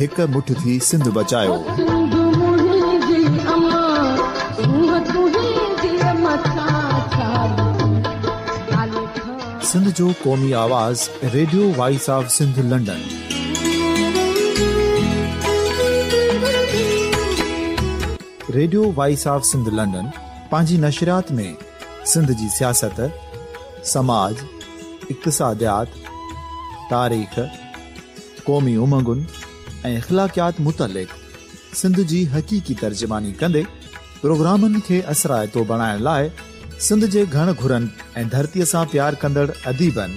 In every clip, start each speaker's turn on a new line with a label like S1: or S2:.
S1: هڪ مٺ ٿي سنڌ بچايوسنڌ جو قومي آواز radio voice of Sindh London radio voice of Sindh London پنهنجي نشريات ۾ سنڌ جي سياست سماج اقتصاديات تاريخ قومي امنگن ۽ اخلاقيات متعلق سنڌ جي حقيقي ترجماني ڪندي پروگرامن کي اثرائتو بڻائڻ لاء سنڌ جي گهڻ گهرن ۽ ڌرتي سان پيار ڪندڙ اديبن،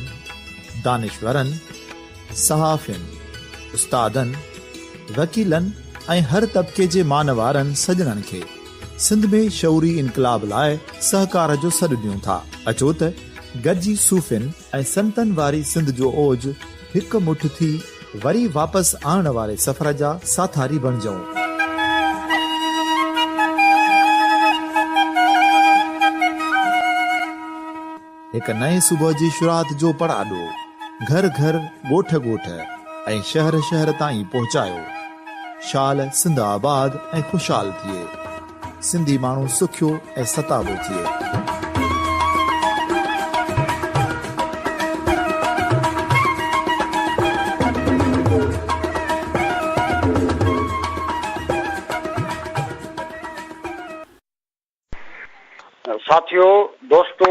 S1: دانشورن، صحافين، استادن، وڪيلن ۽ هر طبقي جي مانوارن سڄڻن کي سنڌ ۾ شعوري انقلاب لاء سهڪار جو سڏ ڏيون ٿا. اچو ته گڏجي صوفين ۽ سنتن واري سنڌ جو اوج هڪ مٺ ٿي وري واپس آڻڻ واري سفر جا ساٿاري بڻجئون. هڪ نئين صبح جي شروعات جو پڙاڏو گهر گهر، ڳوٺ ڳوٺ ۽ شهر شهر تائين پهچايو. شال سنڌ آباد ۽ خوشحال ٿئي. سنڌي ماڻهو سکيو ۽ ستابو ٿئي.
S2: ساٿيو دوستو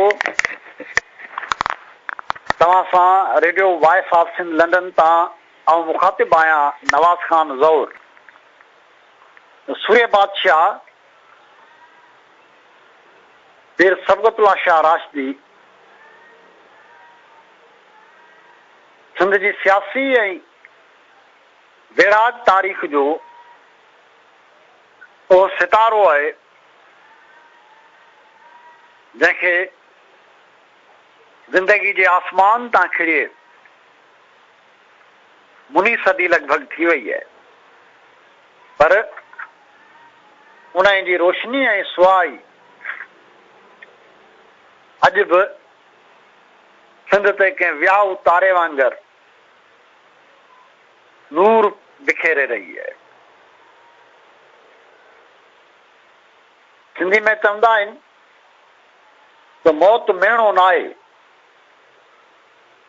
S2: توهان سان radio voice of Sindh London تان آئون مخاطب آهيان نواز خان زئور. سورهيه بادشاهه پير صبغت الله شاهه راشدي سنڌ جي سياسي ۽ ويڙهاڪ تاريخ جو اهو ستارو آهي جنهن کي زندگي جي آسمان تان کڻي مني صدي لڳ ڀڳ ٿي وئي آهي پر انهيء جي روشني ۽ سوا ئي اڄ به سنڌ تي ڪنهن وياو تاري وانگر نور بکيري رهي آهي. سنڌي ۾ چوندا آهن ته موت ميڻو ناهي.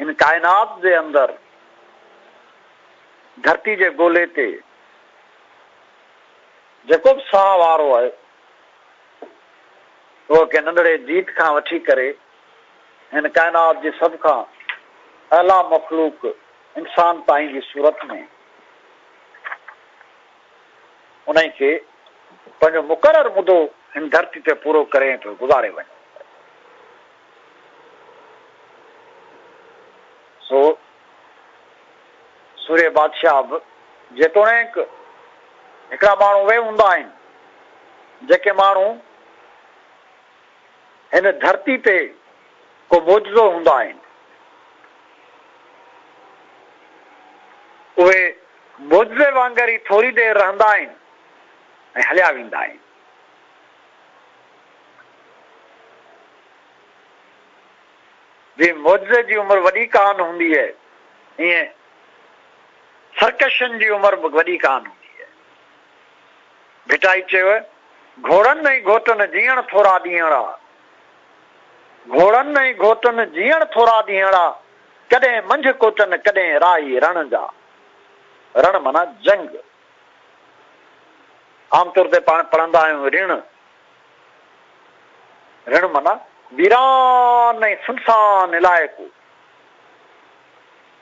S2: هن ڪائنات جي اندر ڌرتي جي گولي تي جيڪو به ساهه وارو آهي اهو ڪنهن ننڍڙي جيت کان وٺي ڪري هن ڪائنات جي سڀ کان اعليٰ مخلوق انسان تائين جي صورت ۾ انهي کي پنهنجو مقرر مدو هن ڌرتي تي پورو ڪري ٿو گذاري وڃي. سو سورهيه بادشاهه به جيتوڻيڪ هڪڙا ماڻهو اهي هوندا آهن، جيڪي ماڻهو هن ڌرتي تي ڪو معجزو هوندا آهن، اهي معجزي وانگر ئي ٿوري دير رهندا آهن ۽ هليا ويندا آهن. جيئن معجزي جي عمر وڏي ڪانه هوندي اهي ايئن سرڪشن جي عمر به وڏي ڪانه هوندي اهي. ڀٽائي چيو گهوڙن ۽ گهوٽن جيئڻ ٿورا ڏينهڙا گهوڙن ۽ گهوٽن جيئڻ ٿورا ڏينهڙا ڪڏهن منجهه ڪوٽن ڪڏهن راهي رڻ جا رڻ معنيٰ جنگ عام طور تي پاڻ پڙهندا آهيون رڻ، رڻ معنيٰ ويران ۽ سنسان علائقو،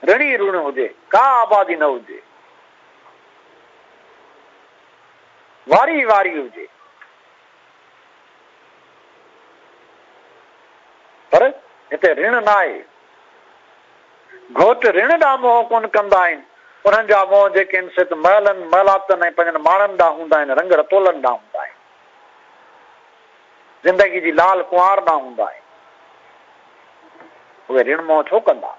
S2: رڻ ئي رڻ هجي، ڪا آبادي نه هجي، واري ئي واري هجي، پر هتي رڻ ناهي. گهوٽ رڻ ڏانهن منهن ڪونه ڪندا آهن، انهن جا منهن جيڪي آهن سي ته محلن، محلاتن ۽ پنهنجن ماڻهن ڏانهن هوندا آهن، رنگ رتولن ڏانهن هوندا آهن. زندگي جي لال ڪنوار ڏانهن هوندا آهن. اهي رڻ منهن ڇو ڪندا؟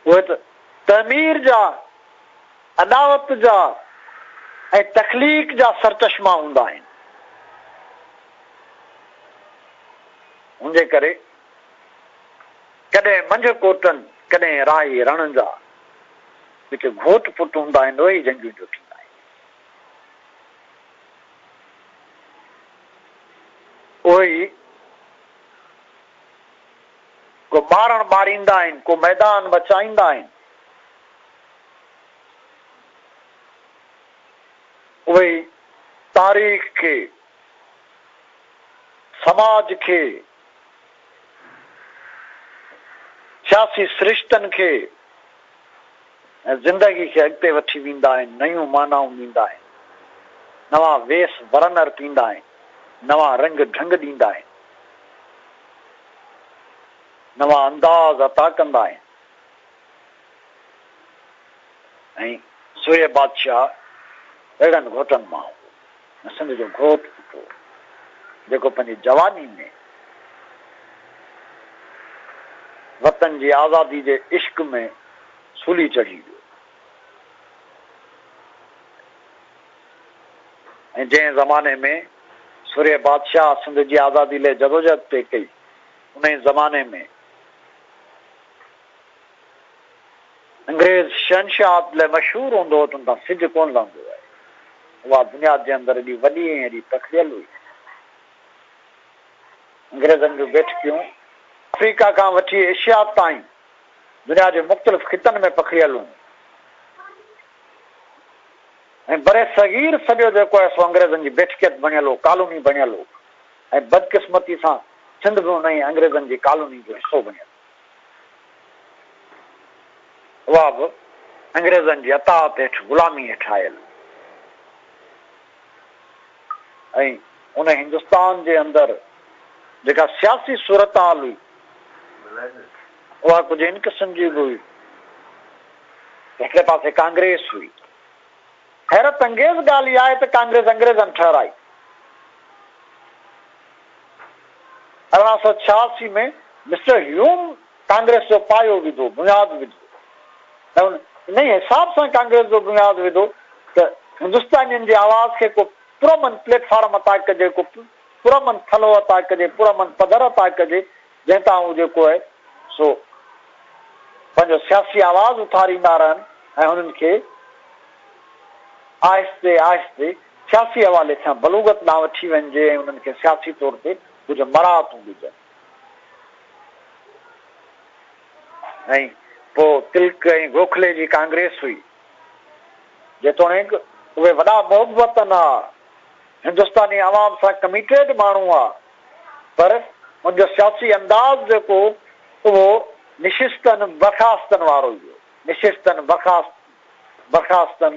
S2: اهي ته تعمير جا، اڏاوت جا ۽ تخليق جا سرچشما هوندا آهن. ان جي ڪري. ڪڏهن منجهه ڪوٽن ڪڏهن راهي رڻن جا جتي گهوٽ پٽ هوندا آهن اهي ئي جنگيون جو ٿيندا آهن. اهي ئي ڪو ٻارڻ ٻاريندا آهن ڪو ميدان مچائيندا آهن. اهي ئي تاريخ کي سماج کي سياسي سرشتن کي ۽ زندگي کي اڳتي وٺي ويندا آهن، نيون معنائون ڏيندا آهن، نوان ويس ورن ارپيندا آهن، نوان رنگ ڍنگ ڏيندا آهن، نوان انداز عطا ڪندا آهن ۽ سورهيه بادشاهه اهڙن گهوٽن مان هو. ھن سنڌ جو گھوٽ ڏٺو جيڪو پنھنجي جواني ۾ وطن جي آزادي جي عشق ۾ سولي چڙھي ويو ۽ جنھن زماني ۾ سورھيه بادشاھ سنڌ جي آزادي لئه جدوجھد پئي ڪئي انھيء زماني ۾ انگريز شهنشاهت لاء مشهور هوندو هو ته ان تان سج ڪونه لهندو هو. اها بنياد جنهن هنڌ ايڏي وڏي ۽ ايڏي پکڙيل هئي. انگريزن جون بيٺڪيون آفريڪا کان وٺي ايشيا تائين دنيا جي مختلف خطن ۾ پکڙيل هيون ۽ برصغير سڄو جيڪو آهي سو انگريزن جي بيٺڪيت بڻيل هو، ڪالوني بڻيل هو ۽ بدقسمتي سان سنڌ به انهيء انگريزن جي ڪالوني جو حصو بڻيل هو. اها به انگريزن جي اطاعت هيٺ غلامي هيٺ آيل ۽ ان هندستان جي اندر جيڪا سياسي صورتحال هئي اها ڪجهه ان قسم جي به هئي هڪڙي پاسي ڪانگريس هئي حيرت انگيز ڳالهه اها آهي ته ڪانگريس انگريزن ٺهرائي ارڙهن سؤ ڇهاسي ۾ مسٽر هيوم ڪانگريس جو پايو وڌو، بنياد وڌو ۽ ان انهي حساب سان ڪانگريس جو بنياد وڌو ته هندستانين جي آواز کي ڪو پرامن پليٽ فارم عطا ڪجي، ڪو پرامن ٿلهو عطا ڪجي، پرامن پڌر عطا ڪجي، جنهن تان هو جيڪو آهي سو پنهنجو سياسي آواز اٿاريندا رهن ۽ هنن کي آهستي آهستي سياسي حوالي کان بلوغت ڏانهن وٺي وڃجي ۽ انهن کي سياسي طور تي ڪجهه مراعتون ڏجن ۽ پوء تلڪ ۽ گوکلي جي ڪانگريس هئي جيتوڻيڪ اهي وڏا محبتن آ هندستاني عوام سان ڪميٽيڊ ماڻهو آ پر هن جو سياسي انداز جيڪو اهو نشستن برخاستن وارو ئي هو. نشستن برخاستن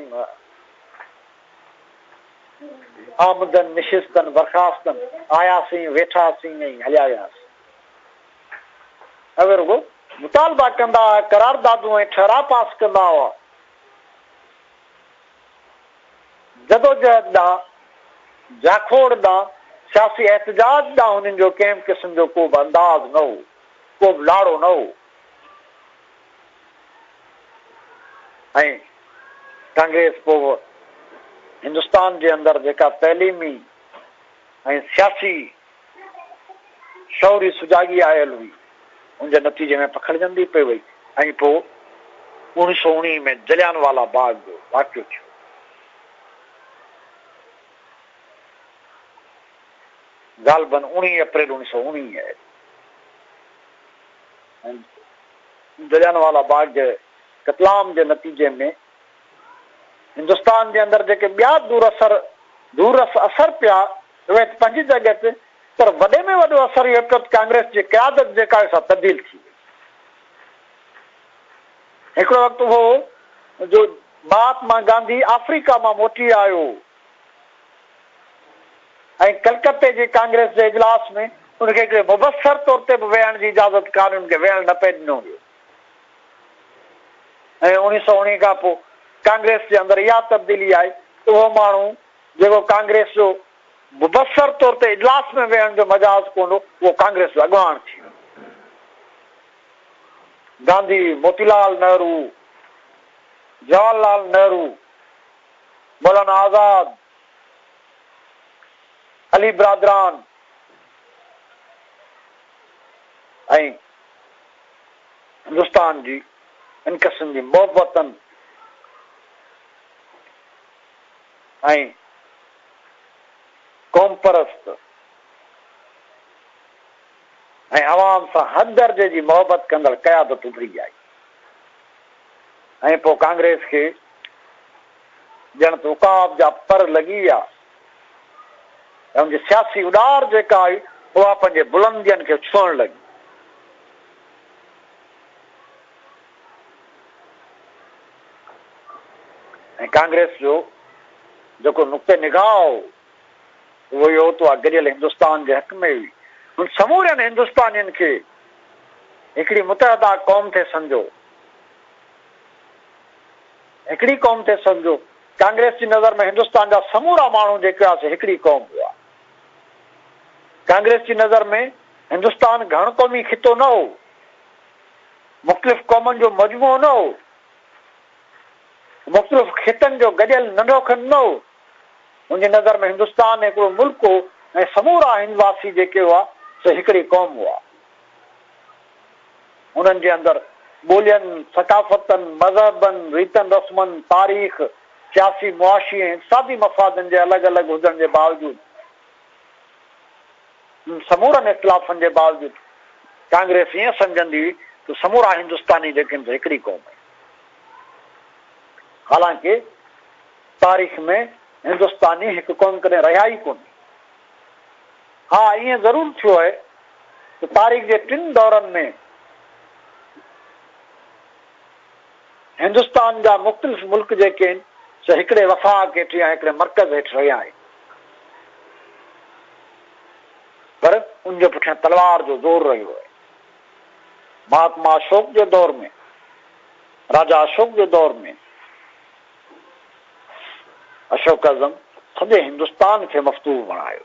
S2: آمدن نشستن برخاستن آياسين ويٺاسين ۽ هليا وياسين. اهي رڳو مطالبا ڪندا هئا، قراردادون ۽ ٺهراء پاس ڪندا هئا. جدوجهد ڏانهن، جاکوڙ ڏانهن، سياسي احتجاج ڏانهن هنن جو ڪنهن به قسم جو ڪو به انداز نه هو، ڪو به لاڙو نه هو ۽ ڪانگريس پوء هندستان جي اندر جيڪا تعليمي ۽ سياسي شعوري سجاڳي آيل هئي، ان جي نتيجي ۾ پکڙجندي پئي وئي ۽ پوء اوڻيهه سؤ اوڻيهه ۾ جليان والا باغ جو واقعو ٿيو. غالباً اوڻيهه اپريل اوڻيهه سؤ اوڻيهه ۾ جليان والا باغ جي قتلام جي نتيجي ۾، هندستان جي اندر جيڪي ٻيا دور اثر دور رس اثر پيا اهي ته پنهنجي جڳهه تي پر وڏي ۾ وڏو اثر اهو پيو ته ڪانگريس جي قيادت جيڪا آهي سا تبديل ٿي وئي. هڪڙو وقت هو جو مهاتما گانڌي آفريڪا مان موٽي آيو ۽ ڪلڪتي جي ڪانگريس جي اجلاس ۾ ان کي هڪڙي مبصر طور تي به ويهڻ جي اجازت ڪانهن ان کي ويهڻ نه پئي ڏنو ويو. ۽ اوڻيھ سؤ اوڻيھ کان پوء ڪانگريس جي اندر اها تبديلي آئي ته اهو ماڻهو جيڪو ڪانگريس جو مبصر طور تي اجلاس ۾ ويهڻ جو مجاز ڪونه هو، اهو ڪانگريس جو اڳواڻ ٿي ويو. گانڌي، موتي لال نهرو، جواهر لال نهرو، مولانا آزاد، علي برادران ۽ هندستان جي هن قسم جي محبتن ۽ قومپرست ۽ عوام سان حد درجي جي محبت ڪندڙ قيادت اڀري آئي ۽ پوء ڪانگريس کي ڄڻ ته عقاب جا پر لڳي ويا ته ان جي سياسي اڏار جيڪا آئي اها پنهنجي بلندين کي ڇهڻ لڳي. ۽ ڪانگريس جو جيڪو نقطه نگاهه هو اهو اهو ته اها گڏيل هندستان جي حق ۾ هئي. هن سمورين هندستانين کي هڪڙي متحده قوم ٿي سمجهيو. هڪڙي قوم ٿي سمجهيو. ڪانگريس جي نظر ۾ هندستان جا سمورا ماڻهو جيڪي هئاسي هڪڙي قوم هئا. ڪانگريس جي نظر ۾ هندستان گهڻ قومي خطو نه هو، مختلف قومن جو مجموعو نه هو، مختلف خطن جو گڏيل ننڍو کنڊ نه هو، هن جي نظر ۾ هندستان هڪڙو ملڪ هو ۽ سمورا هندواسي جيڪي هئا سي هڪڙي قوم هئا. انهن جي اندر ٻولين، ثقافتن، مذهبن، ريتن رسمن، تاريخ، سياسي، معاشي ۽ اقتصادي مفادن جي الڳ الڳ هجڻ جي باوجود انهن سمورن اختلافن جي باوجود ڪانگريس ائين سمجهندي هئي ته سمورا هندستاني جيڪي آهن سي هڪڙي قوم آهن. حالانڪه تاريخ ۾ هندستاني هڪ قوم ڪڏهن رهيا ئي ڪونهي. ها ائين ضرور ٿيو آهي ته تاريخ جي ٽن دورن ۾ هندستان جا مختلف ملڪ جيڪي آهن سي هڪڙي وفاق هيٺ يا هڪڙي مرڪز هيٺ رهيا آهن پر ان جي پٺيان تلوار جو زور رهيو آهي. مهاتما اشوڪ جي دور ۾ راجا اشوڪ جي دور ۾ اشوڪ اعظم سڄي هندستان کي مفتوح بڻايو.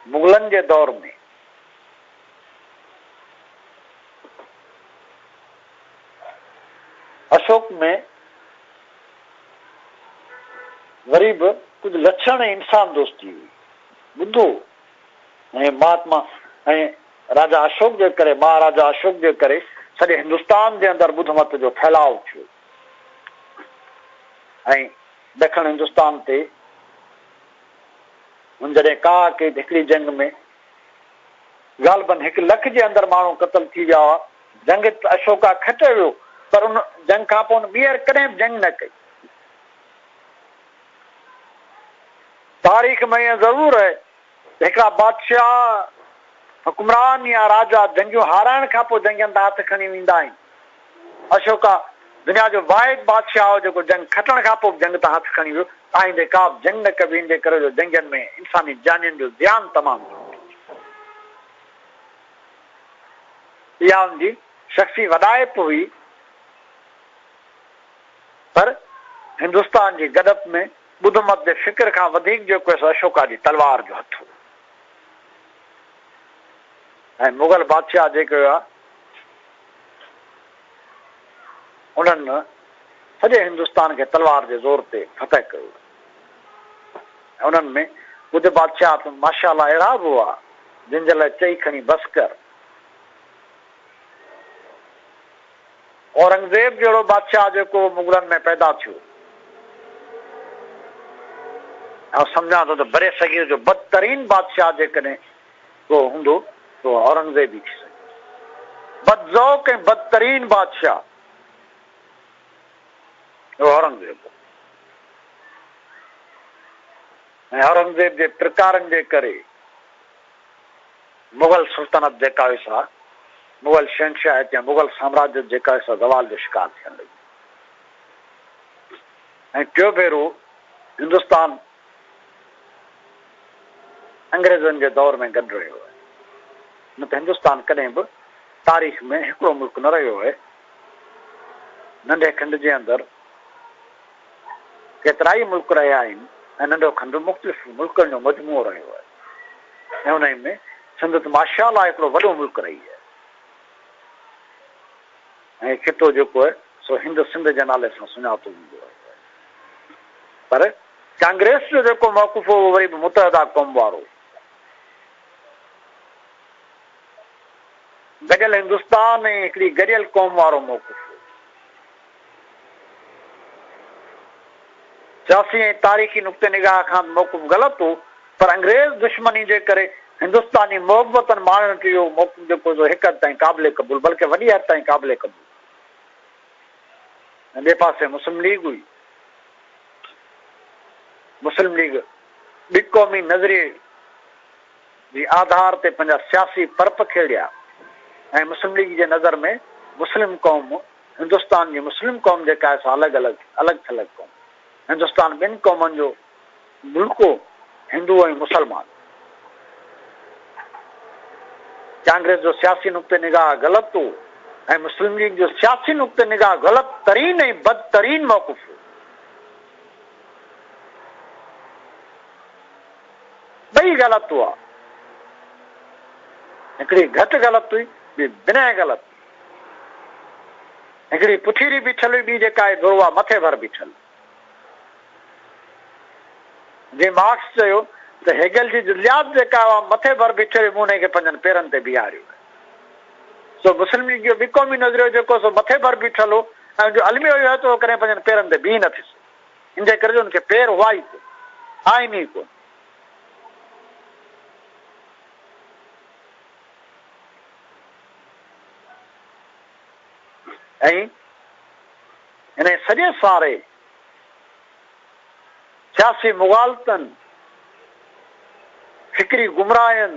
S2: مغلن جي دور ۾ اشوڪ ۾ وري به ڪجهه لڇڻ انسان دوستي هئي. ٻڌو ۽ مهاتما ۽ راجا اشوڪ جي ڪري، مهاراجا اشوڪ جي ڪري سڄي هندستان جي اندر ٻڌ مت جو ڦهلاء ٿيو ۽ ڏکڻ هندستان تي هن جڏهن ڪاهه ڪئي ته هڪڙي جنگ ۾ غالبن هڪ لک جي اندر ماڻهو قتل ٿي ويا هئا. جنگ ته اشوڪا کٽيو ويو پر ان جنگ کانپوء هن ٻيهر ڪڏهن به جنگ نه ڪئي. تاريخ ۾ ائين ضرور آهي ته هڪڙا بادشاهه، حڪمران يا راجا جنگيون هارائڻ کان پوء جنگين تان هٿ کڻي ويندا آهن. اشوڪا دنيا جو واحد بادشاهه هو جيڪو جنگ کٽڻ کان پوء به جنگ تان هٿ کڻي ويو. آئيندي ڪابه جنگ نه ڪبي ان جي ڪري جو جنگين ۾ انساني جانين جو زيان تمام گهڻو ٿي ٿئي. اها ان جي شخصي وڏائپ هئي. پر هندستان جي گڏپ ۾ ٻڌ مت جي فڪر کان وڌيڪ جيڪو هيس اشوڪا جي تلوار جو هٿ هو ۽ مغل بادشاهه جيڪي هئا انهن سڄي هندستان کي تلوار جي زور تي فتح ڪيو ۽ انهن ۾ ڪجهه بادشاهه ته ماشاءالله اهڙا به هئا جن جي لاء چئي کڻي بس ڪر. اورنگزيب جهڙو بادشاهه جيڪو مغلن ۾ پيدا ٿيو. آئون سمجهان ٿو ته برصغير جو بدترين بادشاهه جيڪڏهن ڪو هوندو ته اهو اورنگزيب ئي ٿي سگهيو. بدذوق ۽ بدترين بادشاهه اهو اورنگزيب هو ۽ اورنگزيب جي پرڪارن جي ڪري، مغل سلطنت جيڪا هئي سا مغل شهنشاهيت يا مغل سامراجيت جيڪا هئي سا زوال جو شڪار ٿيڻ لڳي ۽ ٽيون ڀيرو هندستان انگريزن جي دور ۾ گڏ رهيو آهي نه ته هندستان ڪڏهن به تاريخ ۾ هڪڙو ملڪ نه رهيو آهي ننڍي کنڊ جي اندر ڪيترائي ملڪ رهيا آهن ۽ ننڍو کنڊ مختلف ملڪن جو مجموعو رهيو آهي ۽ انهي ۾ سنڌ ته ماشاءالله هڪڙو وڏو ملڪ رهي آهي ۽ هي خطو جيڪو آهي سو هند سنڌ جي نالي سان سڃاتو ويندو رهيو آهي پر ڪانگريس جو جيڪو موقف هو اهو وري به متحده قوم وارو گڏيل هندستان ۽ هڪڙي گڏيل قوم وارو موقف هو سياسي ۽ تاريخي نقطه نگاهه کان به محڪم غلط هو پر انگريز دشمني جي ڪري هندستاني محبتن ماڻهن کي اهو محڪم جيڪو سو هڪ حد تائين قابل قبول بلڪه وڏي حد تائين قابل قبول هو ۽ ٻئي پاسي مسلم ليگ هئي مسلم ليگ ٻي قومي نظريي جي آڌار تي پنهنجا سياسي پرپ کيڙيا ۽ مسلم ليگ جي نظر ۾ مسلم قوم هندستان جي مسلم قوم جيڪا آهي سا الڳ الڳ الڳ ٿلڳ قوم هندستان ٻن قومن جو ملڪو هندو ۽ مسلمان ڪانگريس جو سياسي نقطه نگاهه غلط هو ۽ مسلم ليگ جو سياسي نقطه نگاهه غلط ترين ۽ بدترين موقف هو ٻئي غلط هئا هڪڙي گهٽ غلط هئي ٻي بنهه غلط هڪڙي پٺيري بيٺل هئي، ٻي جيڪا آهي ڌروا مٿي ڀر بيٺل. جنهن مارڪس چيو ته هيگل جي جزيات جيڪا اها مٿي ڀر بيٺي هئي، مون انهيء کي پنهنجن پيرن تي بيهاريو آهي. سو مسلم ليگ جو ٻي قومي نظريو جيڪو سو مٿي ڀر بيٺل هو ۽ ان جو الميو اهو هو ته اهو ڪڏهن پنهنجن پيرن تي بيهي نه ٿي سگهيو. ان جي ڪري جو ان کي پير هئا ئي ڪونه. آهن ئي ڪونه. ۽ انهيء سڄي ساري سياسي مغالطن، فڪري گمراهين،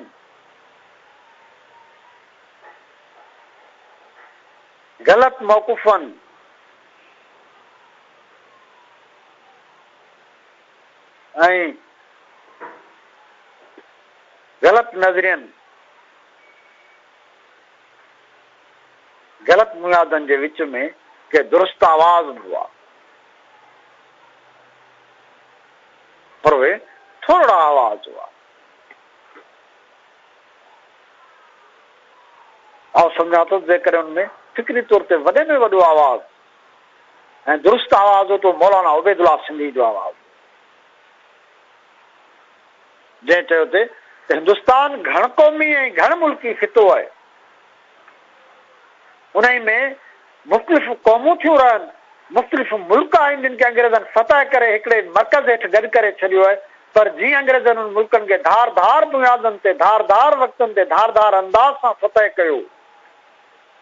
S2: غلط موقفن، ۽. غلط نظرين، غلط ميادن جي وچ ۾ ڪي درست آواز به هئا، پر اهي ٿورڙا آواز هئا. آئون سمجهان ٿو ته جيڪڏهن ان ۾ فڪري طور تي وڏي ۾ وڏو آواز ۽ درست آواز هو ته اهو مولانا عبيدالله سنڌيء جو آواز هو. جنهن چيو ته هندستان گهڻ قومي ۽ گهڻ ملڪي خطو آهي، انهي ۾ مختلف قومون ٿيون رهن، مختلف ملڪ آهن جن کي انگريزن فتح ڪري هڪڙي ئي مرڪز هيٺ گڏ ڪري ڇڏيو آهي پر جيئن انگريزن انهن ملڪن کي ڌار ڌار بنيادن تي ڌار ڌار وقتن تي ڌار ڌار انداز سان فتح ڪيو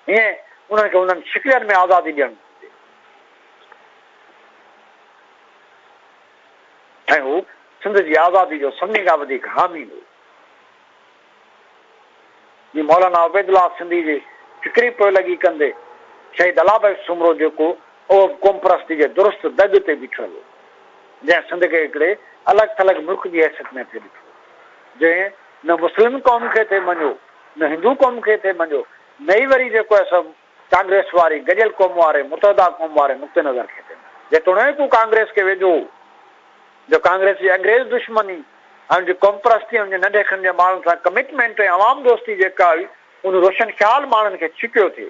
S2: ايئن انهن کي انهن شڪلين ۾ آزادي ڏيڻ گهرجي. ۽ هو سنڌ جي آزادي جو سڀني کان وڌيڪ حامي هو. جي مولانا عبيدالله سنڌي جي فڪري پوئلڳي ڪندي شهيد الله بخش سومرو جيڪو اهو به قومپرستي جي درست دڳ تي بيٺل هو، جنهن سنڌ کي هڪڙي الڳ ٿلڳ ملڪ جي حيثيت ۾ ٿي ڏٺو، جنهن نه مسلم قوم کي ٿي مڃيو، نه هندو قوم کي ٿي مڃيو، نه ئي وري جيڪو اهي سڀ ڪانگريس واري گڏيل قومون واري متحده قوم واري نقطي نظر کي ڏنو جيتوڻيڪ هو ڪانگريس کي ويجهو هو جو ڪانگريس جي انگريز دشمني ۽ ان جي قومپرستي ۽ ان جي ننڍي کن جي ماڻهن سان ڪمٽمينٽ ۽ عوام دوستي جيڪا هئي ان روشن خيال ماڻهن کي ڇڪيو ٿي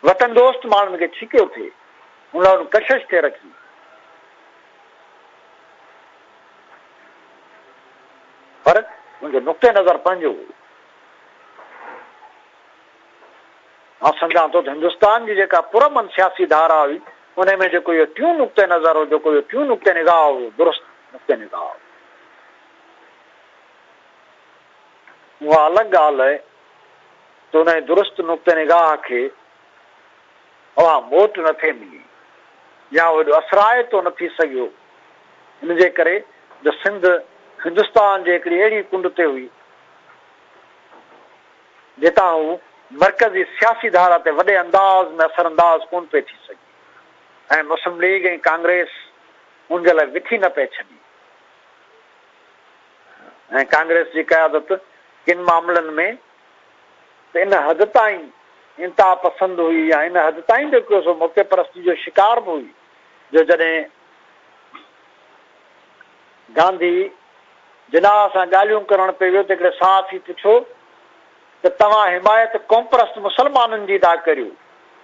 S2: وطن دوست ماڻهن کي ڇڪيو ٿي ان لاء ان ڪشش کي رکي پر ان جو نقطه نظر پنهنجو هو مان سمجهان ٿو ته هندستان جي جيڪا پرامن سياسي ڌارا هئي، انهي ۾ جيڪو اهو ٽيون نقطه نظر هو، جيڪو اهو ٽيون نقطه نگاهه هو، اهو درست نقطه نگاهه هو. اها الڳ ڳالهه آهي ته انهي درست نقطه نگاهه کي اوها موٽ نه ٿي ملي يا اهو ايڏو اثرائتو نه ٿي سگهيو، ان جي ڪري جو سنڌ هندستان جي هڪڙي اهڙي ڪنڊ تي هئي، جتان هو مرڪزي سياسي ڌارا تي وڏي انداز ۾ اثرانداز ڪونه پئي ٿي سگهي ۽ مسلم ليگ ۽ ڪانگريس ان جي لاء وٿي نه پئي ڇڏي ۽ ڪانگريس جي قيادت ڪن معاملن ۾ ته ان حد تائين انتها پسند هئي يا ان حد تائين به ڪو سو موقعي پرستي جو شڪار به هئي جو جڏهن گانڌي جناح سان ڳالهيون ڪرڻ پئي ويو ته هڪڙي صحافي پڇيو ته توهان حمايت قومپرست مسلمانن جي ٿا ڪريو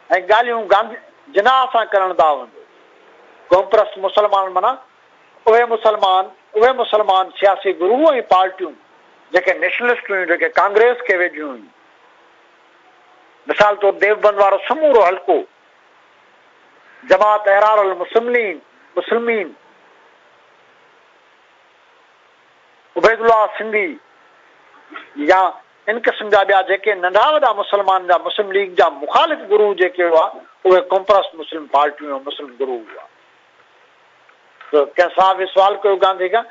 S2: ۽ ڳالهيون گانڌي جناح سان ڪرڻ ٿا وڃو. قومپرست مسلمان معنيٰ اهي مسلمان اهي مسلمان سياسي گروه ۽ پارٽيون جيڪي نيشنلسٽ هيون جيڪي ڪانگريس کي ويجهيون هيون. مثال طور ديوبند وارو سمورو حلقو جماعت احرار المسملين مسلمين عبيدالله سنڌي يا ان قسم جا ٻيا جيڪي ننڍا وڏا مسلمان جا مسلم ليگ جا مخالف گرو جيڪي هئا اهي ڪمپرس مسلم پارٽيون ۽ مسلم گرو هئا ته ڪنهن صاحب به سوال ڪيو گانڌي کان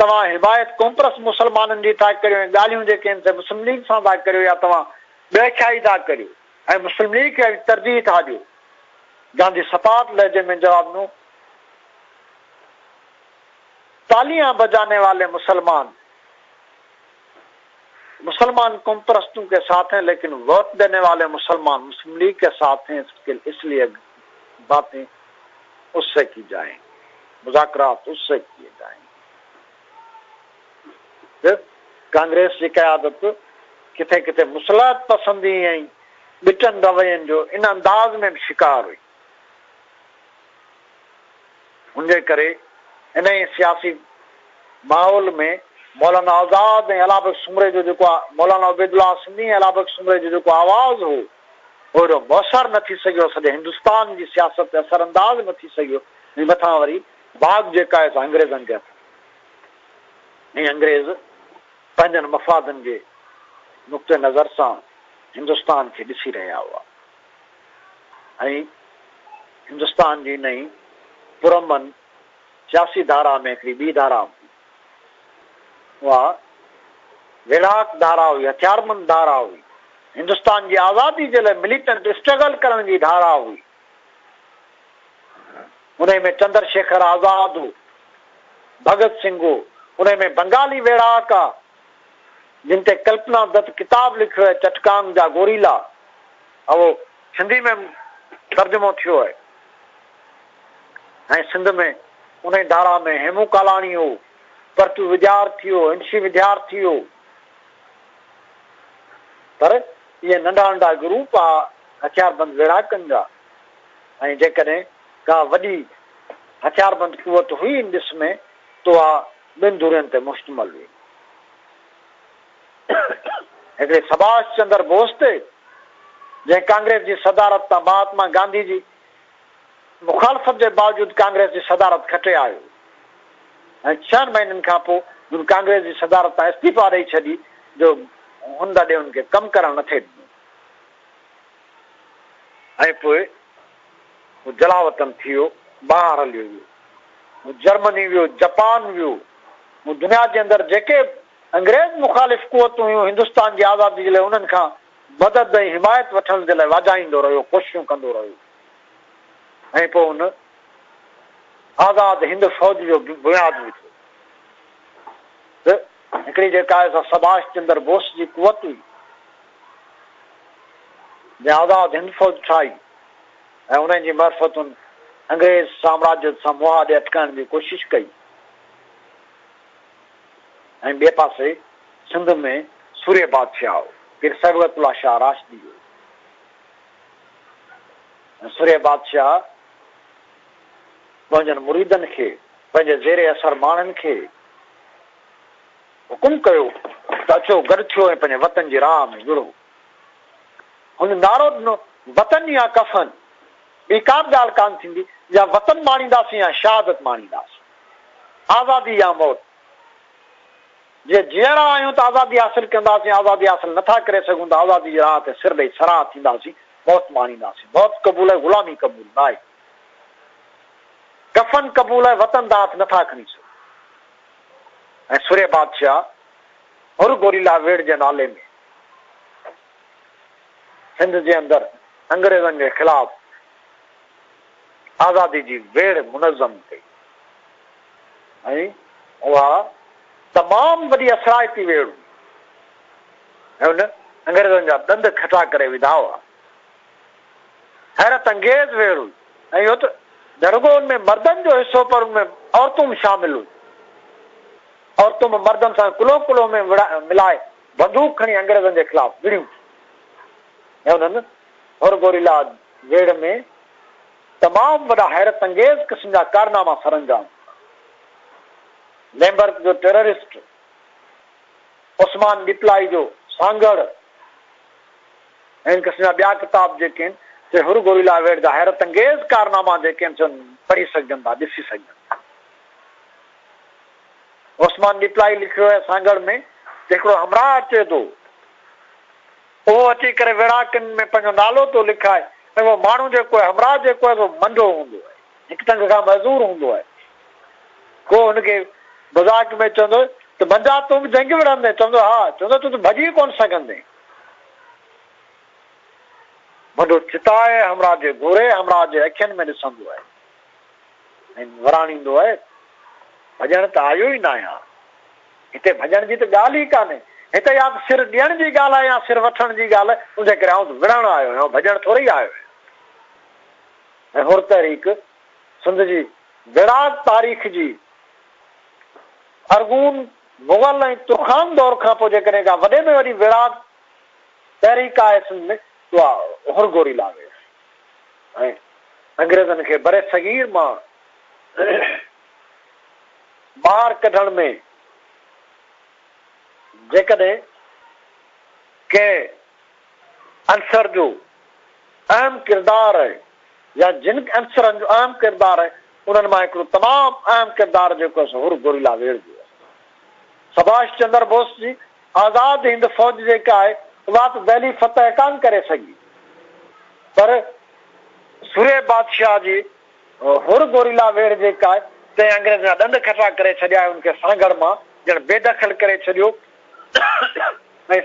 S2: توهان حمايت ڪمپرس مسلمانن جي ٿا ڪريو ۽ ڳالهيون جيڪي آهن سي مسلم ليگ سان ٿا ڪريو يا توهان ٻئي کي ٿا ڪريو ۽ مسلم ليگ کي ترجيح ٿا ڏيو گانڌي سپاٽ لهجي ۾ جواب ڏنو تاليان بجاني والي مسلمان مسلمان قومپرستون ڪي ساٿ هين ليڪن ووٽ ديني والي مسلمان مسلم ليگ ڪي ساٿ هين اس ليئي باتي اس سي ڪي جائين مذاڪرات اس سي ڪيئي جائين ته ڪانگريس جي قيادت ڪٿي ڪٿي مصلحت پسندي ۽ ٻٽن روين جو ان انداز ۾ به شڪار هئي. انجي ڪري انهيء سياسي ماحول ۾ مولانا آزاد ۽ علابخش سومري جو جيڪو مولانا عبيدالله سنڌي ۽ علابخش سومري جو جيڪو آواز هو، اهو ايڏو موثر نه ٿي سگهيو، سڄي هندستان جي سياست تي اثر انداز نه ٿي سگهيو ۽ مٿان وري واڳ جيڪا آهي سا انگريزن جي هٿ ۾ ۽ انگريز پنهنجن مفادن جي نقطه نظر سان هندستان کي ڏسي رهيا هئا. ۽ هندستان جي نئين پرامن سياسي ڌارا ۾ هڪڙي ٻي ڌارا هوندي. اها ويڙهاڪ ڌارا هئي، هٿياربند ڌارا هئي، هندستان جي آزادي جي لاء مليٽنٽ اسٽرگل ڪرڻ جي ڌارا هئي. انهي ۾ چندر شيکر آزاد هو، ڀڳت سنگهه هو، انهي ۾ بنگالي ويڙهاڪ، جن تي ڪلپنا دت ڪتاب لکيو آهي چٽڪام جا گوريلا اهو سنڌي ۾ ترجمو ٿيو آهي ۽ سنڌ ۾ انهي ڌارا ۾ هيمون ڪالاڻي هو پرتو وجار ٿي هو انشي وڌيار ٿي هو پر اهي ننڍا ننڍا گروپ آ هٿياربند ويڙهاڪن جا ۽ جيڪڏهن ڪا وڏي هٿياربند قوت هئي ان ڏس ۾ تو آ ٻن ڌرين تي مشتمل هئي. هڪڙي سڀاش چندر بوس تي، جنهن ڪانگريس جي صدارت تان مهاتما گانڌي جي مخالفت جي باوجود ڪانگريس جي صدارت کٽي آيو ۽ ڇهن مهينن کان پوء هن ڪانگريس جي صدارت تان استعيفا ڏئي ڇڏي جو هن دڏي هن کي ڪم ڪرڻ نٿي ڏنو ۽ پوء هو جلاوطن ٿي ويو، ٻاهر هليو ويو. هو جرمني ويو، جپان ويو. هو دنيا جي اندر جيڪي به انگريز مخالف قوتون هيون، هندستان جي آزادي جي لاء انهن کان مدد ۽ حمايت وٺڻ جي لاء واجهائيندو رهيو، ڪوششون ڪندو رهيو. ۽ پوء ان آزاد هند فوج جو بنياد وڌو. ته هڪڙي جيڪا سڀاش چندر بوس جي قوت هئي. ۾ آزاد هند فوج ٺاهي ۽ انهن جي معرفتن انگريز سامراجيت سان منهن آڏي اٽڪائڻ جي ڪوشش ڪئي ۽ ٻئي پاسي سنڌ ۾ سورهيه بادشاهه پير صبغت الله شاهه راشدي هو ۽ سورهيه بادشاهه پنهنجن مريدن کي پنهنجي زير اثر ماڻهن کي حڪم ڪيو ته اچو گڏ ٿيو ۽ پنهنجي وطن جي راهه ۾ وڙهو. هن نعرو ڏنو، وطن يا ڪفن، ٻي ڪا به ڳالهه ڪانه ٿيندي، يا وطن ماڻينداسين يا شهادت ماڻينداسين، آزادي يا موت، جي جيئرا آهيون ته آزادي حاصل ڪنداسين، آزادي حاصل نه ٿا ڪري سگهون ته آزادي جي راهه تي سر ڏئي سراهه ٿينداسين، موت ماڻينداسين، موت قبول آهي، غلامي قبول ناهي، ڪفن قبول آهي، وطن دانهه هٿ نه ٿا کڻي سگهون. ۽ سورهيه بادشاهه حر گوريلا ويڙهه جي نالي ۾ سنڌ جي اندر انگريزن جي خلاف آزادي جي ويڙهه منظم ڪئي ۽ اها تمام وڏي اثرائتي ويڙهه هئي. هن انگريزن جا ڏند کٽا ڪري وڌا هئا. حيرت انگيز ويڙهه هئي ۽ اهو ته درگهن ۾ مردن جو حصو پر ان ۾ عورتون به شامل هيون. عورتون به مردن سان ڪلهو ڪلهو ۾ ملائي بندوق کڻي انگريزن جي خلاف وڙهيون ٿيون ۽ انهن هورگوريلا ويڙهه ۾ تمام وڏا حيرت انگيز قسم جا ڪارناما سرانجام ڪيا. ليمبرڪ جو ٽيررسٽ عثمان ڏيپلائي جو سانگهڙ، هن قسم جا ٻيا ڪتاب جيڪي آهن سي حر گوريلا ويڊ جا حيرت انگيز ڪارناما جيڪي آهن سي پڙهي سگهجن ٿا ڏسي سگهجن ٿا. عثمان ڏيپلائي لکيو آهي سانگهڙ ۾ ته هڪڙو همراهه اچي ٿو اهو اچي ڪري ويڙهاڪن ۾ پنهنجو نالو ٿو لکائي ۽ اهو ماڻهو جيڪو آهي همراهه جيڪو آهي سو منڊو هوندو آهي. هڪ تنگ کان معذور هوندو آهي. ڪو هن کي مذاق ۾ چوندو ته بندا تون به جنگ وڙهندين؟ چوندو ها. چوندو تون ته ڀڄي ئي ڪونه سگهندين. بنڊو چتائي همراهه جي گهوري همراهه جي اکين ۾ ڏسندو آهي ۽ وراڻيندو آهي، ڀڄڻ ته آيو ئي ناهيان ها. هتي ڀڄڻ جي ته ڳالهه ئي ڪانهي. هتي يا ته سر ڏيڻ جي ڳالهه آهي يا سر وٺڻ جي ڳالهه آهي. ان ڪري آئون ته وڙهڻ آيو آهيان، ڀڄڻ ٿورئي آيو آهيان. ۽ حر تحريڪ سنڌ جي ويڙهاڪ تاريخ جي ارغون مغل ۽ ترخان دور کان پوء جيڪڏهن ڪا وڏي ۾ وڏي ويڙهاڪ تحريڪ آهي سنڌ ۾ ته اها حر گوريلا هئي ۽ انگريزن کي برصغير مان ٻاهر ڪڍڻ ۾ جيڪڏهن ڪنهن عنصر جو اهم ڪردار آهي يا جن عنصرن جو اهم ڪردار آهي انهن مان هڪڙو تمام اهم ڪردار جيڪو اسان حر گوريلا ويڙهه جي اسان سڀاش چندر بوس جي آزاد هند فوج جيڪا آهي اها ته دهلي فتح ڪانه ڪري سگهي پر سورهيه بادشاهه جي حر گوريلا ويڙهه جيڪا آهي تنهن انگريزن جا ڏند کٽا ڪري ڇڏيا ۽ ان کي سانگهڙ مان ڄڻ بيدخل ڪري ڇڏيو ۽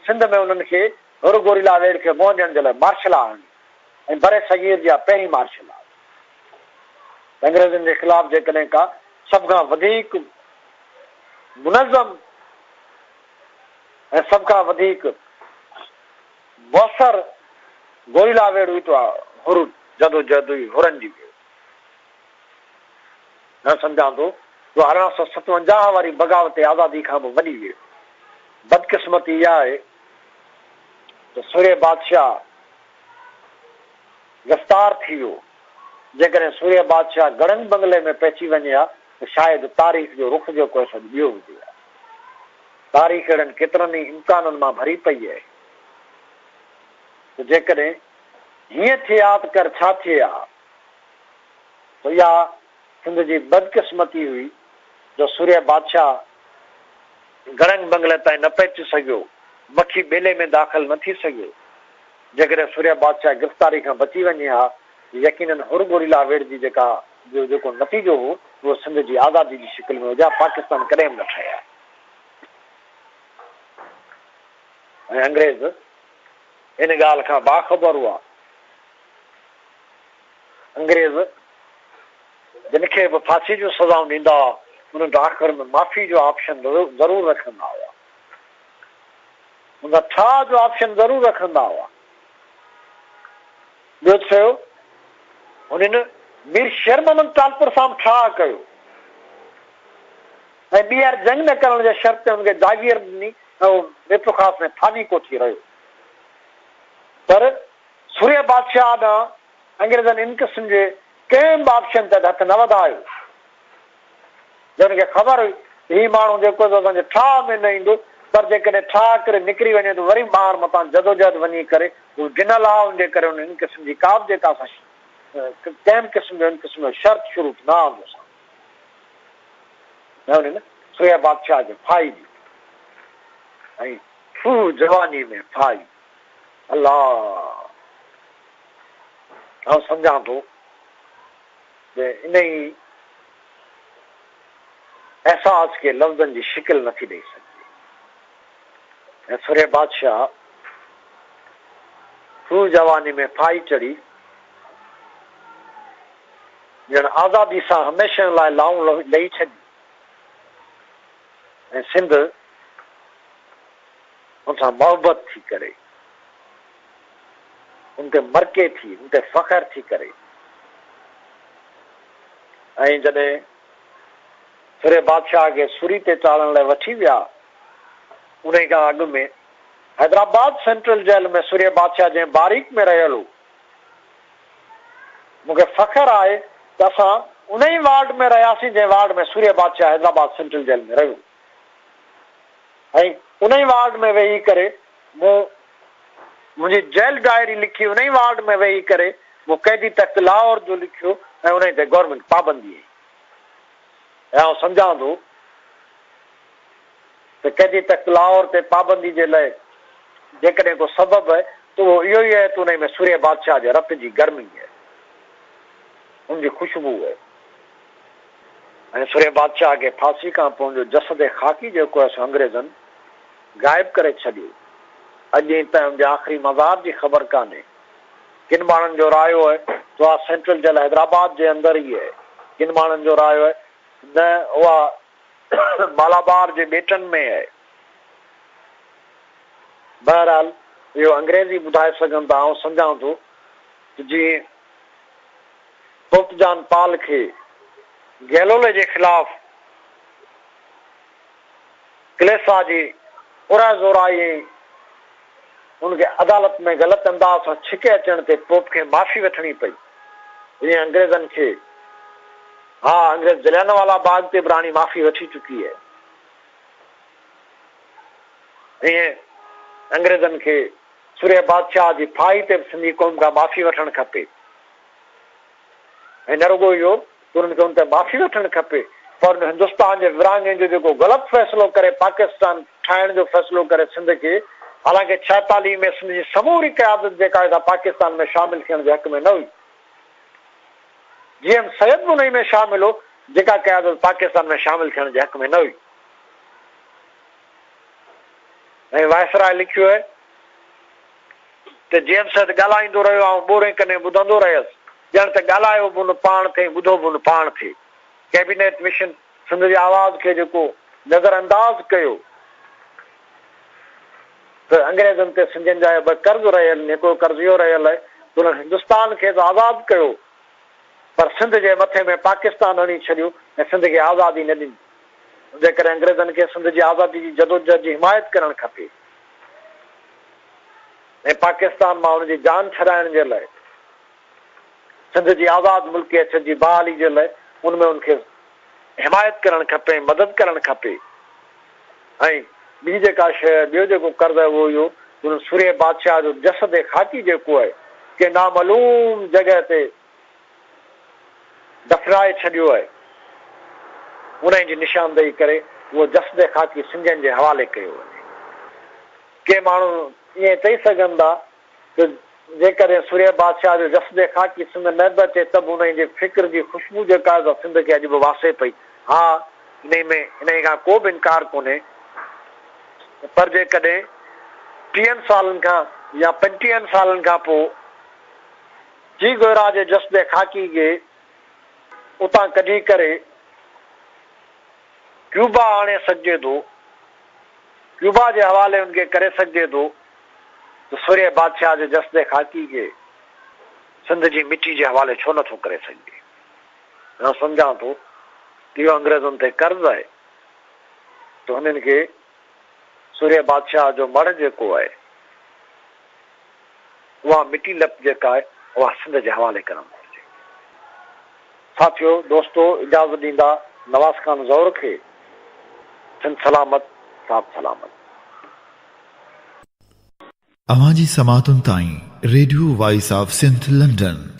S2: سنڌ ۾ انهن کي ھر گوريلا ويڙھ کي منھن ڏيڻ جي لاء مارشل لا آڻي ۽ برصغير جي اھا پهرين مارشل لا ھئي ته انگريزن جي خلاف جيڪڏھن ڪا سڀ کان وڌيڪ منظم ۽ سڀ کان وڌيڪ موثر گوريلا ويڙھ ھئي ته اھا ھر جدوجهد ھئي، ھرن جي ويڙھ ھئي. ھن سمجھان ٿو جو ارڙهن سؤ ستونجاهه واري بغاوت آزادي کان به وڏي ويڙھ ھئي. بدقسمتي اھا آھي ته سورهيه بادشاهه گرفتار ٿي ويو. جيڪڏهن سورهيه بادشاهه گڙهن بنگلي ۾ پهچي وڃي ها ته شايد تاريخ جو رخ جو ڪوئي سڏ ٻيو هجي ها. تاريخ اهڙن ڪيترن ئي امڪانن مان ڀري پئي اهي ته جيڪڏهن هيئن ٿئي ها ته ڪر ڇا ٿئي ها ته اها سنڌ جي بدقسمتي هئي جو سورهيه بادشاهه گڙنگ بنگلي تائين نه پهچي سگهيو، مکي ٻيلي ۾ داخل نه ٿي سگهيو. جيڪڏهن سورهيه بادشاهه گرفتاري کان بچي وڃي ها ته يقينن هر گوريلا ويڙهه جي جيڪا جو جيڪو نتيجو هو اهو سنڌ جي آزادي جي شڪل ۾ هجها پاڪستان ڪڏهن به نه ٺهي ها ۽ انگريز ان ڳالهه کان باخبر هئا. انگريز جن کي به ڦاسي جون سزائون ڏيندا هئا، انهن ته آخر ۾ معافي جو آپشن ضرور رکندا هئا. انهن ٺاهه جو آپشن ضرور رکندا هئا. ٻيو ته سهيو، هنن مير شير محمد ٽالپر سان به ٺاهه ڪيو ۽ ٻيهر جنگ نه ڪرڻ جي شرط تي هن کي جاگير ڏني ۽ هو ميرپورخاص ۾ ٿاني ڪوٺي رهيو. پر سورهيه بادشاهه ڏانهن انگريزن ان قسم جي ڪنهن به آپشن تحت هٿ نه وڌايو جو هن کي خبر هئي ته هي ماڻهو جيڪو سو اسان جي ٺاهه ۾ نه ايندو پر جيڪڏهن ٺاهه ڪري نڪري وڃي ته وري ٻاهر متان جدوجهد وڃي ڪري هو گنل آهي ان جي ڪري هن ان قسم جي ڪابه جيڪا اسان ڪنهن به قسم جو ان قسم جو شرط شروط نه آندو سان نه هن سورهيه بادشاهه کي ڦاهي ڏني ۽ هو جواني ۾ ڦاهي الله! آئون سمجهان ٿو ته انهيء احساس کي لفظن جي شڪل نه ٿي ڏئي سگهجي ۽ سرهي بادشاهه سور جواني ۾ ڦاهي چڙهي ڄڻ آزادي سان هميشه لاء لائون لهي ڇڏي ۽ سنڌ ان سان محبت ٿي ڪري، ان تي مرڪي ٿي، ان تي فخر ٿي ڪري ۽ جڏهن سرهي بادشاهه کي سوري تي چاڙهڻ لاء وٺي ويا، انهي کان اڳ ۾ حيدرآباد سينٽرل جيل ۾ سرهي بادشاهه جنهن باريڪ ۾ رهيل هو، مون کي فخر آهي ته اسان انهي وارڊ ۾ رهياسين جنهن وارڊ ۾ سورهي بادشاهه حيدرآباد سينٽرل جيل ۾ رهيو هو. ۽ انهي وارڊ ۾ ويهي ڪري مون منهنجي جيل ڊائري لکي انهي وارڊ ۾ ويهي ڪري مون قيدي تخت لاهور جو لکيو ۽ انهي تي گورنمينٽ پابندي هئي ۽ آئون سمجهان ٿو ته قيدي تخت لاهور تي پابندي جي لاء جيڪڏهن ڪو سبب آهي ته اهو اهو ئي آهي ته انهي ۾ سورهيه بادشاهه جي رت جي گرمي آهي ان جي خوشبو آهي ۽ سرهيه بادشاهه کي ڦاسي کان پون جو جسد ۽ خاڪي جيڪو هيس انگريزن غائب ڪري ڇڏيو. اڄ ڏينهن تائين ان جي آخري مزار جي خبر ڪانهي. ڪن ماڻهن جو رايو اهي ته اها سينٽرل جيل حيدرآباد جي اندر ئي اهي. ڪن ماڻهن جو رايو اهي نه اها مالابار جي ٻيٽن ۾ اهي. بهرحال اهو انگريز ئي ٻڌائي سگهن ٿا. آئون سمجهان ٿو ته جي پوپ جان پال کي گيلولي جي خلاف ڪليسا جي پرهه زورائي ۽ هن کي عدالت ۾ غلط انداز سان ڇڪي اچڻ تي پوپ کي معافي وٺڻي پئي جيئن انگريزن کي ها انگريز جليانوالا باغ تي به راڻي معافي وٺي چڪي هي ائين انگريزن کي سورهيه بادشاهه جي ڦاهي تي به سنڌي قوم کان معافي وٺڻ کپي. ۽ نه رڳو اهو ته انهن کي ان تي معافي وٺڻ کپي پر ان هندستان جي ورهاڱي جو جيڪو غلط فيصلو ڪري پاڪستان ٺاهڻ جو فيصلو ڪري سنڌ کي حالانڪه ڇهيتاليهه ۾ سنڌ جي سموري قيادت جيڪا هئي سا پاڪستان ۾ شامل ٿيڻ جي حق ۾ نه هئي جي ايم سيد به انهي ۾ شامل هو جيڪا قيادت پاڪستان ۾ شامل ٿيڻ جي حق ۾ نه هئي ۽ وائسراء لکيو هي ته جيمس اڌ ڳالهائيندو رهيو. آئون ٻورين ڪني ٻڌندو رهيس، ڄڻ ته ڳالهايو به ان پاڻ ٿئي، ٻڌو به ان پاڻ ٿئي. ڪيبينيٽ مشن سنڌ جي آواز کي جيڪو نظر انداز ڪيو ته انگريزن تي سنڌين جا ٻه قرض رهيل آهن، هڪڙو قرض اهو رهيل آهي ته انهن هندستان کي ته آزاد ڪيو پر سنڌ جي مٿي ۾ پاڪستان هڻي ڇڏيو ۽ سنڌ کي آزادي نه ڏني. انهيء ڪري انگريزن کي سنڌ جي آزادي جي جدوجهد جي حمايت ڪرڻ کپي. ۽ پاڪستان مان ان جي جان ڇڏائڻ جي لاء سنڌ جي آزاد ملڪي اڇن جي بحالي جي لاء ان ۾ ان کي حمايت ڪرڻ کپي ۽ مدد ڪرڻ کپي ۽ ٻي جيڪا شيء ٻيو جيڪو قرض آهي اهو اهو جو ان سورهيه بادشاهه جو جسد خاڪي جيڪو آهي ڪنهن نامعلوم جڳهه تي دفنائي ڇڏيو آهي انهي جي نشاندهي ڪري اهو جسد خاڪي سنڌين جي حوالي ڪيو وڃي. ڪي ماڻهو ائين چئي سگهن ٿا ته جيڪڏهن سورهيه بادشاهه جو جسدي خاڪي سنڌ نه به اچي ته به انهيء جي فڪر جي خوشبو جيڪا آهي سا سنڌ کي اڄ به واسي پئي. ها، انهيء ۾ انهيء کان ڪو به انڪار ڪونهي ته پر جيڪڏهن ٽيهن سالن کان يا پنجٽيهن سالن کان پوء چي گويرا جي جسدي خاڪي کي اتان ڪڍي ڪري، ڪيوبا آڻي سگهجي ٿو، ڪيوبا جي حوالي ان کي ڪري سگهجي ٿو ته سورهيه بادشاهه جي جسدي خاڪي کي سنڌ جي مٽي جي حوالي ڇو نه ٿو ڪري سگهجي؟ آئون سمجهان ٿو ته اهو انگريزن تي قرض آهي ته انهن کي سورهيه بادشاهه جو مڙهه جيڪو آهي، اها مٽي لپ جيڪا آهي، اها سنڌ جي حوالي ڪرڻ گهرجي. ساٿيو، دوستو، اجازت ڏيندا نواز خان زئور کي، سنڌ سلامت، صاحب سلامت.
S1: اوهان جي سماعتن تائين radio voice of Sindh London.